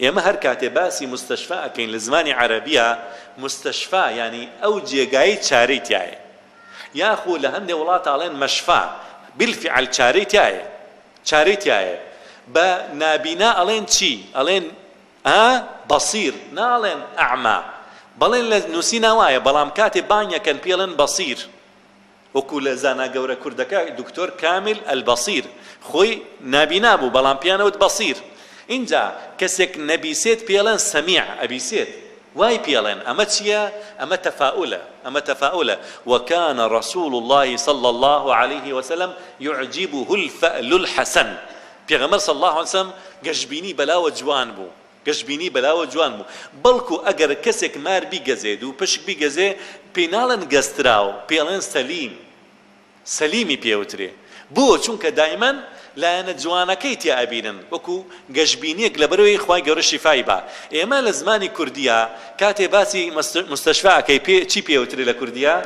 ئێمە هەر کاتێ باسی مستشفا ئەکەین لە زمانی عەرەبییا مستشفا یانی ئەو جێگایەی چارەی تیایە یاخو لە هەندێ وڵات ئەڵێن مشفا بالفعل چارەی تیایە چارەی تیایە بە نابینا ئەڵێن چی ئەڵێن ئا بەصیر ناڵێن ئەعما بەڵێن لە نووسینا وایە بەڵام کاتێ بانگەکەن پێڵێن بەصیر وەکو لە زانا گەورە کوردەکە دکتۆر کامل البصیر خۆی نابینا بوو بەڵام پێیان ئەوت بەصیر ئینجا کەسێک نەبیسێت پێڵێن سەمیع ئەبیسێت وای پێڵێن ئەمە چییە ئەمە تەفائولە ئەمە تەفائولە وکان رسول اللە صلی اللە علیە وسلم یعجبه الفئل الحسن پێغەمبەر صلی اللە علیە وسلم گەشبینی بەلاوە جوان بوو گەشبینی بەلاوە جوان بوو بەڵکو ئەگەر کەسێک مار بیگەزێت و پشک بیگەزێ پێی ناڵێن گەزتراو پێی ئەڵێن سەلیم سەلیمی پێ ئەوترێ بۆ چونکە دایمەن لایەنە جوانەکەی تیا ئەبینن وەکو گەشبینیەک لەبەرئەوەی خوای گەورە شیفای با ئێمە لە زمانی کوردیا کاتێ باسی مستشفا ئەکەی پێ چی پێ ئەوترێ لە کوردیا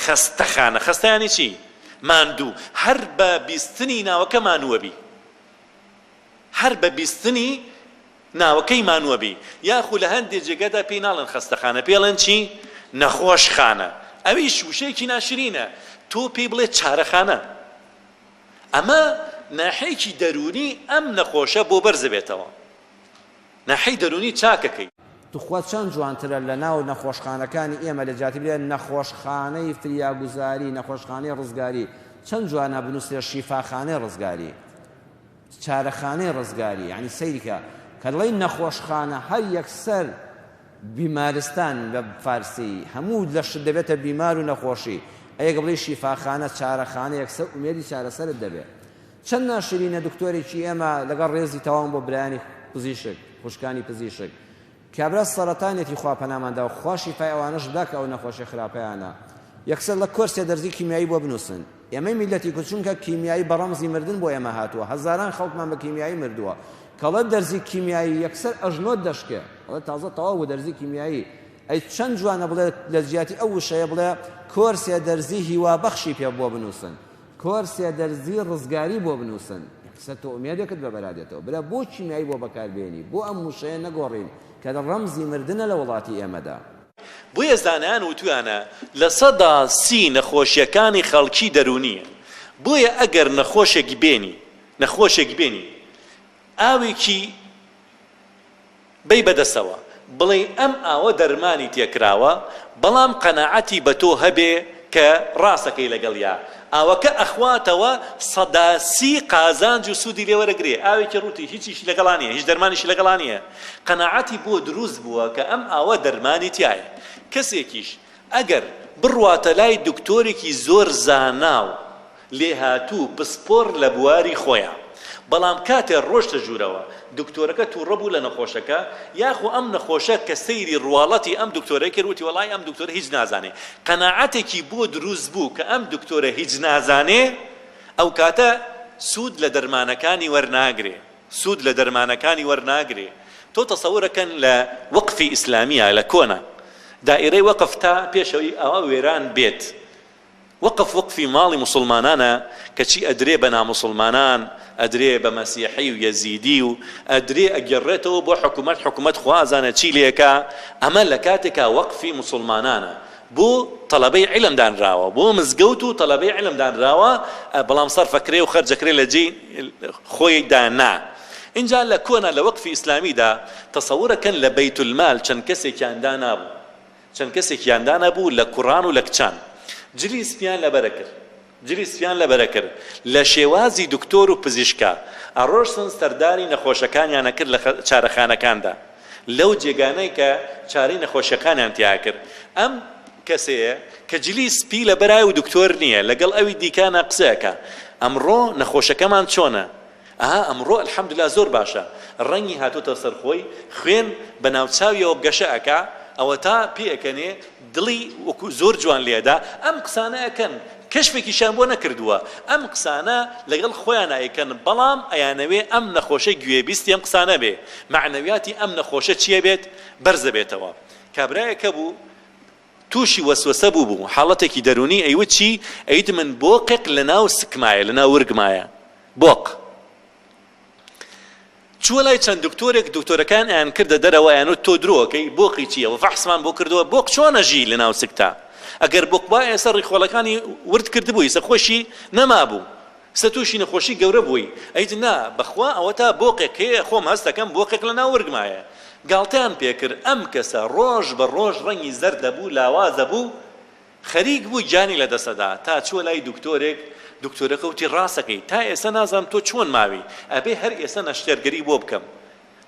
خەستەخانە خەستە یانی چی ماندوو هەر بە بیستنی ناوەکە مانووەبی. هەر بە بیستنی ناوەکەی مانووە بی یاخو لە هەندێ جێگادا پێی ناڵێن خەستەخانە پێی ئەڵێن چی نەخۆشخانە ئەویش وشەیەکی ناشرینە تۆ پێی بڵێ چارەخانە ئەمە ناحێکی دەروونی ئەم نەخۆشە بۆ بەرز ئەبێتەوە ناحێی دەروونی چاکەکەی. توخوا چەند جوانترە لە ناو نەخۆشخانەکانی ئێمە لە جیاتی بلێن نەخۆشخانەی فریاگوزاری نەخۆشخانەی ڕزگاری چەند جوانە بنوسرێ شیفاخانەی ڕزگاری. چارەخانەی ڕزگاری یانی سەیرکە کە دەڵێی نەخۆشخانە هەر یەکسەر بیمارستان بە فارسی هەموو لەشت دەبێتە بیمار و نەخۆشی ئەیەک بڵێ شیفاخانە چارەخانە یەکسەر ئومێدی چارەسەرت دەبێت چەند ناشرینە دکتۆرێکی ئێمە لەگەڵ ڕێزی تەواوم بۆ برایانی پزیشک خوشکانی پزیشک کابرا سەرەتانێتی خوا پەنامان داو خوا شیفای ئەوانەش بدا کە ئەو نەخۆشیە خراپەیانە یەکسەر لە کۆرسێ دەرزی کیمیایی بۆ بنوسن ئێمەی میلەتی کورد چونکە کیمیایی بە ڕەمزی مردن بۆ ئێمە هاتووە هەزاران خەڵکمان بە کیمیایی مردووە کەڵە دەرزی کیمیایی یەکسەر ئەژنۆت دەشکێ ئەڵێ تازە تەواو بۆ دەرزی کیمیایی ئەی چەند جوانە بڵێ لە جیاتی ئەو وشەیە بڵێ کۆرسێ دەرزی هیوا بەخشی پێ بۆ بنووسن کۆرسێ دەرزی ڕزگاری بۆ بنوسن. قسە تۆ ئومێدێکت بە بەرا دێتەوە برا بۆ کیمیایی بۆ بەکار بێنی بۆ ئەم وشەیە نەگۆڕین کە ڕەمزی مردنە لە وڵاتی ئێمەدا. بۆیە زانایان وتویانە لە سەدا سی نەخۆشیەکانی خەڵکی دەروونیە بۆیە ئەگەر نەخۆشێک بێنی نەخۆشێک بێنی ئاوێکی. بەی بەدەستەوە بڵێی ئەم ئاوە دەرمانی تێکراوە بەڵام قەناعەتی بەتۆ هەبێ کە ڕاستەکەی لەگەڵیا ئاوەکە ئەخواتەوە سەدا سی قازانج و سودی لێ وەرەگرێ ئاوێکی ڕوتی هیچیشی لەگەڵا نیە هیچ دەرمانیشی لەگەڵا نیە قەناعەتی بۆ دروست بووە کە ئەم ئاوە دەرمانی تیایە کەسێکیش ئەگەر بڕواتە لای دکتۆرێکی زۆر زاناو لێهاتوو پسپۆڕ لە بواری خۆیان، بەڵام کاتێ ڕۆشتە ژوورەوە دکتۆرەکە توڕە بوو لە نەخۆشەکە یاخو ئەم نەخۆشە کە سەیری ڕواڵەتی ئەم دکتۆرەی کرد وتی وەڵاهی ئەم دکتۆرە هیچ نازانێ قەناعەتێکی بۆ دروست بوو کە ئەم دکتۆرە هیچ نازانێ ئەوکاتە سود لە دەرمانەکانی وەرناگرێ سود لە دەرمانەکانی وەرناگرێ تۆ تەسەورە کەن لە وەقفی ئیسلامیە لە کۆنە دائیرەی وەقف تا پێشەوەی ئەوە وێران بێت وەقف وەقفی ماڵی موسوڵمانانە کەچی ئەدرێ بە ناموسوڵمانان ئەدرێ بە مەسیحی و یەزیدی و ئەدرێ ئەگێڕرێتەوە بۆ حکومەت حکومەت خوازانە چی لێکا ئەمە لە کاتێکا وەقفی موسوڵمانانە بۆ تەڵەبەی عیلم دانراوە بۆ مزگەوت و تەڵەبەی عیلم دانراوە بەڵام سەرفەکرێ و خەرجەکرێ لە جێی خۆی دا نا ئینجا لە کۆنا لە وەقفی ئیسلامیدا تەسەورەکەن لە بەیت المال چەند کەسێکیان دانابوو چەند کەسێکیان دانەبوو لە کوڕان و لە کچان جلی سپیان لە بەرە کرد جلی سپیان لە بەرە کرد لە شێوازی دکتۆر و پزیشکا ئەڕۆشتن سەردانی نەخۆشەکانیان ئەکرد لە چارەخانەکاندا لەو جێگانەی کە چارەی نەخۆشیەکانیان تیا ئەکرد ئەم کەسەیە کە جلی سپی لە بەرایە و دکتۆر نیە لەگەڵ ئەوی دیکانا قسە ئەکا ئەمڕۆ نەخۆشەکەمان چۆنە؟ ئەها ئەمڕۆ الحمدللە زۆر باشە ڕەنگی هاتۆتە سەر خۆی خوێن بە ناو چاویەوە گەشە ئەکا ئەوەتا پێ ئەکەنێ دڵی وەکو زۆر جوان لێ ئەدا ئەم قسانە ئەکەن کەشفێکیشیان بۆ نەکردووە ئەم قسانە لەگەڵ خۆیانا ئەیکەن بەڵام ئەیانەوێ ئەم نەخۆشە گوێبیستی ئەم قسانە بێ مەعنەویاتی ئەم نەخۆشە چیە بێت بەرزە بێتەوە کابرایەک هەبوو توشی وەسوەسە بوبوم حاڵەتێکی دەرونی ئەیوت چی ئەیوتمن بۆقێک لەناو سکمایە لەناو ورگمایە بۆق چوە لای چەند دکتۆرێک دکتۆرەکان ئەیان کردە دەرەوە ئەیانوت تۆ درۆکەی بۆقی چیە وە فەحسمان بۆ کردوە بۆق چۆن ئەژی لەناو سکتا ئەگەر بۆق بای ئێستا ڕیخۆڵەکانی ورد کردبوی ئیسە خۆشی نەمابو سە توشی نەخۆشی گەورە بووی. ئەیت نا بەخوا ئەوەتا بۆقێک هەیە خۆم هەست ئەکەم بۆقێک لەناو ورگما هەیە گاڵتەیان پێکرد ئەم کەسە ڕۆژ بە ڕۆژ ڕەنگی زەرد دەبوو لاواز دەبوو خەریک بوو گیانی لە دەست ئەدا تا چووە لای دکتۆرێک دکتۆرەکە وتی ڕاست ئەکەی تا ئێستا نازانم تۆ چۆن ماوی ئەبێ هەر ئێستا نەشتەرگەری بۆ بکەم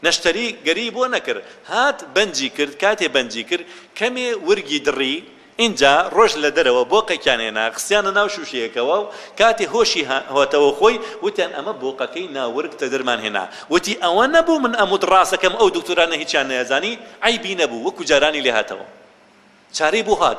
نەشتەری گەری بۆ نەکرد هات بەنجی کرد کاتێ بەنجی کرد کەمێ ورگی دڕی ئینجا ڕۆشت لە دەرەوە بۆقەکیان هێنا خستیانە ناو شوشەیەکەوە و کاتێ هۆشی هاتەوە خۆی وتیان ئەمە بۆقەکەی نا ورگ تەدرمان هێنا وتی ئەوە نەبوو من ئەموت ڕاسەکەم ئەو دکتۆرانە هیچیان نەیەزانی عەیبی نەبوو وەکو جارانی لێهاتەوە چارەی بۆ هات